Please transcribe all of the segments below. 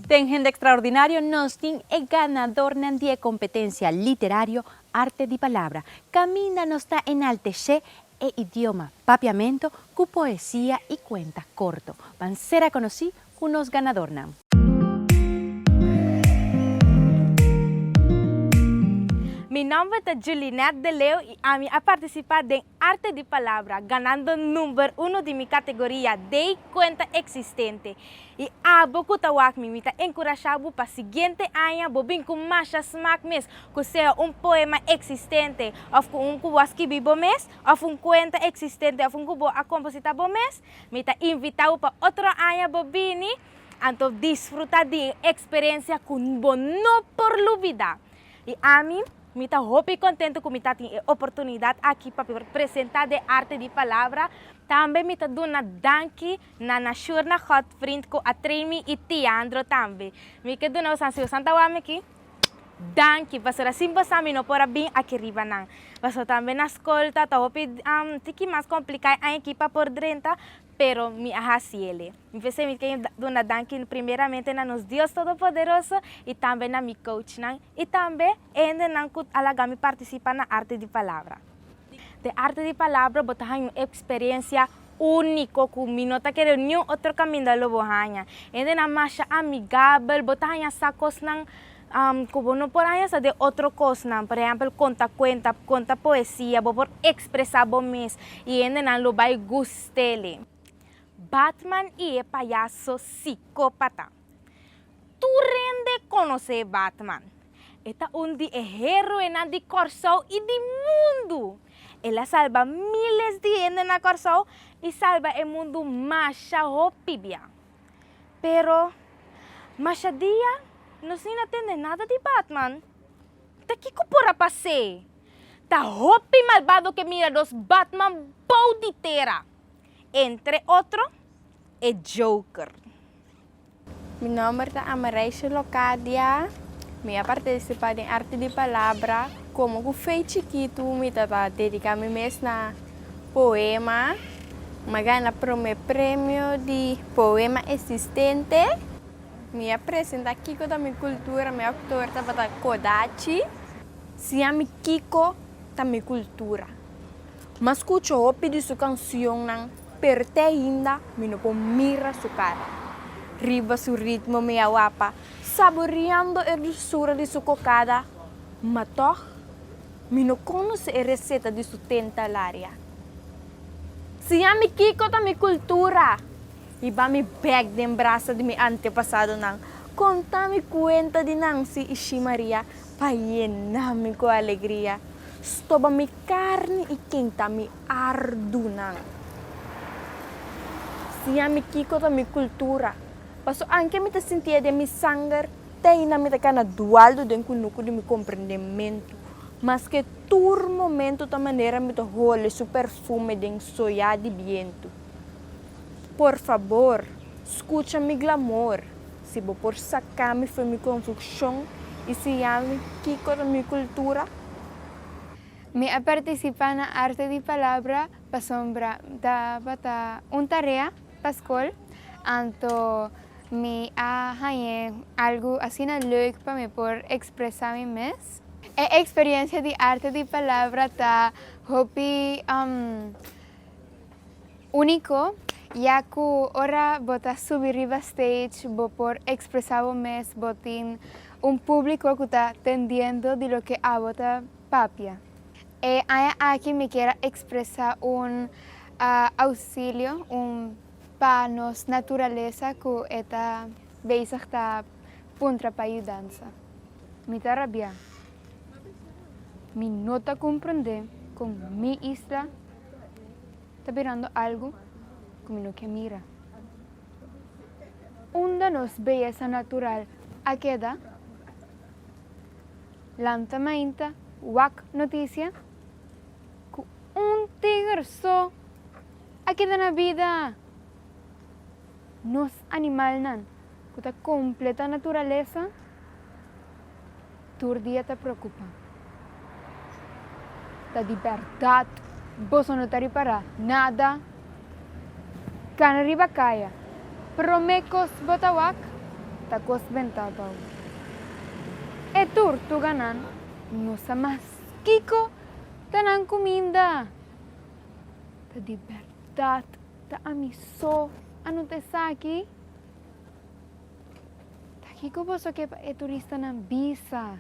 Den Hende Extraordinario nos tin e ganadornan di e competencia literario Arte di Palabra, caminda nos ta enaltece e idioma Papiamento cu poesia y cuenta corto. Ban ser a conoci cu nos ganadornan. Mi nomber ta Julinette de Leeuw y ami a participa den. Arte di palabra, ganando number uno di mi categoria dei cuenta existente. Y abo cu ta wak mi, mi ta encurasha bo pa siguiente aña bo bin cu masha smaak mes, cu sea un poema existente, of cu un cu bo a skibi bo mes, of un cuenta existente, of un cu bo a composita bo mes. Mi ta invita bo pa otro aña bo bini, anto disfruta di un experiencia cu bo no por lubida. Y ami. Mi ta hopi kontentu ku mi ta tin e oportunidat aki pa por presentá den arte di palabra. Tambe mi ta duna danki na Nashurna Godvriend ku a train mi i Tiandro tambe. Mi ke duna bosan, si bosan ta wak mi aki, danki, pasobra sin bosan mi no por a bin aki riba nan. Paso tambe na skol ta ta hopi tiki mas kompliká e aña aki pa por drenta, pero mi a hasi ele. Mi p'esei mi ken duna danki primeramente na nos Dios Todopoderoso i tambe na mi kouchnan i tambe endenan ku a laga mi partisipa na Arte di Palabra. Den Arte di Palabra bo ta haña un eksperensia úniko ku mi no ta kere niun otro kaminda lo bo haña. Endenan masha amigabel, bo ta haña sa kosnan. Ku bo no por haña sa den otro kosnan. Por ehèmpel, konta kuenta, konta poesia. Bo por ekspresá bo mes i hendenan lo bai gust'é. Batman i e payaso sikópata. Tur rende konos'é Batman. E ta un di e héroenan di Kòrsou i di mundu. El a salba míles di hende na Kòrsou i salba e mundu masha hopi bia. Pero, masha dia nos ni na tende nada di Batman. Ta kiko por a pas'é? Ta hopi malbado ke mira dos Batman bou di tera, entre otro e Joker. Mi nòmber ta Amareisha Locadia. Mi a partisipá den Arte di Palabra. Komo ku Fey chikitu mi tabata dediká mi mes na Poema M'a gana promé premio di poema esistente Mi a presenta kiko ta mi kultura Mi oktor tabata Kodachi. Siami kiko ta mi kultura M'a skucha hopi di su kansionnan Pero te ainda mi no por mira su kara Riba su ritmo mi a wapa Saboreando e dulsura di su kokada Ma tòg. Mi no conoce e receta di su ten talaria. Siñami kico ta mi cultura. I ba mi bek den brasa di mi antepasadonan, conta mi cuenta di Nancy i Xi Maria pa yenami cu alegria. Stoba mi carni i kenta mi ardunan. Siñami kico ta mi cultura, paso anke mi ta sinti e den mi sanger. Te ahinda mi ta kana dualdo den kunuku di mi komprendementu, maske tur momentu ta manera mi ta hole su perfume den soya di bientu. Por fabor, skucha mi glamor, si bo por saka mi for mi konfukshon i siñalmi kiko ta mi kultura. Mi a partisipá na Arte di Palabra pasobra mi tabata un tarea. Pa skol, anto mi a hañ'é algu asina lèuk pa mi por ekspresá mi mes. E eksperiensia di arte di palabra ta hopi úniko, ya ku ora bo ta subi riba stage bo por ekspresá bo mes, bo tin un públiko ku ta tendiendo di loke abo ta Papia. E aña aki mi kier a ekspresá un ousilio, un pa nos naturalesa ku e ta bezig ta puntra pa yudansa. Mi ta rabiá. Mi no ta komprondé kon mi isla ta birando algu ku mi no ke mira. Unda nos beyesa natural a keda? Lanzamento, Wak noticia, cu un tiger so a keda na bida! Nos animalnan cu ta completa naturalesa tur dia ta preocupa. Ta di berdad, boso no ta ripara nada! Kan riba kaya. Promé kos bo ta wak, ta kos ben tabou. E turtuganan no sa mas kiko ta nan kuminda. Ta di bèrdat ta ami so a nota esaki? Ta kiko boso ke pa e turistanan bisa?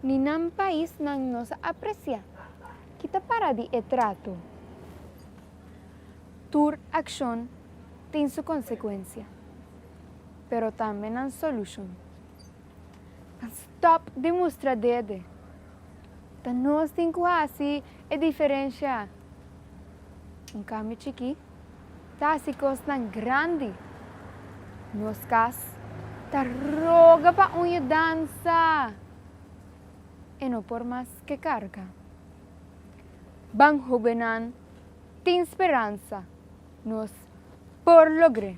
Ni nan paisnan no sa apresiá. Kita para di e trato. Tur akshon tin su konsekuensia, pero tambe nan solushon. Nan stòp di mustra dede. Ta nos tin ku hasi e diferensha. Un kambio chikí. Ta hasi kosnan grandi. Nos kas ta roga pa un yudansa e no por mas ke karga. Ban hobennan tin speransa nos por logr'é.